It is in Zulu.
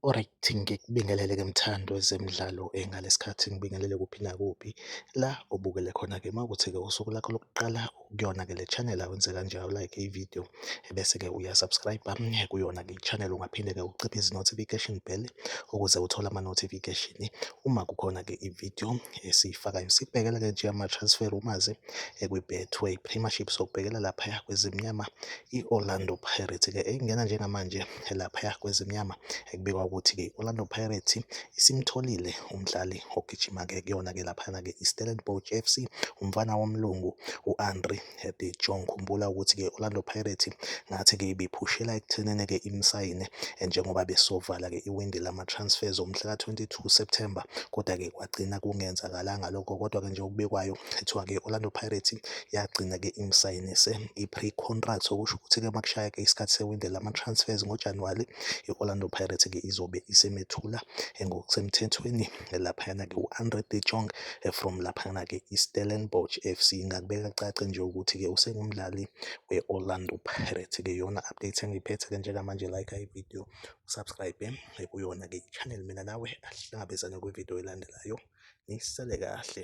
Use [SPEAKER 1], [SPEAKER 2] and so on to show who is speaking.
[SPEAKER 1] Alright, ngikubingelele ke mthando wezemidlalo engalesi sikhathi ngibingelele kuphi nakuphi la obukele khona-ke uma ukuthi-ke usuku lakho lokuqala. kuyona ke le channel awenze kanjalo like i video ebese ke uya subscribe kuyona ke channel ungaphinde ke uciphe izi notification bell ukuze uthole ama notification uma kukhona ke i video esiyifakayo sibhekela ke nje ama transfer rumors ekwi Betway Premiership sokubhekela lapha kwezimnyama i Orlando Pirates ke engena njengamanje laphaya kwezimnyama ekubikwa ukuthi-ke i-Orlando Pirates isimtholile umdlali ogijima-ke kuyona-ke laphayana-ke i-Stellenbosch FC umfana womlungu u-Andre de Jong. Khumbula ukuthi-ke i-Orlando Pirates ngathi-ke ibiphushela ekuthenini-ke imsayine eh, njengoba besovala-ke iwindi lama-transfers omhlaka 22 September kodwa-ke kwagcina kungenzakalanga lokho kodwa-ke nje okubekwayo kuthiwa-ke i-Orlando Pirates yagcina-ke imsayinise i-pre-contract okusho ukuthi-ke uma kushaya-ke isikhathi sewindi lama-transfers ngoJanuwari i-Orlando Pirates-ke izobe isemethula eh, ngokusemthethweni eh, laphayana-ke u-andre de jong eh, from laphayana-ke i-stellenbosch f c ngakubeka cace nje ukuthi-ke usengumdlali we-orlando Pirates-ke yona update engiyiphethe-ke njengamanje like ividiyo usubscribe kuyona-ke i-channel mina nawe ahlangabezane kwividiyo elandelayo nisale kahle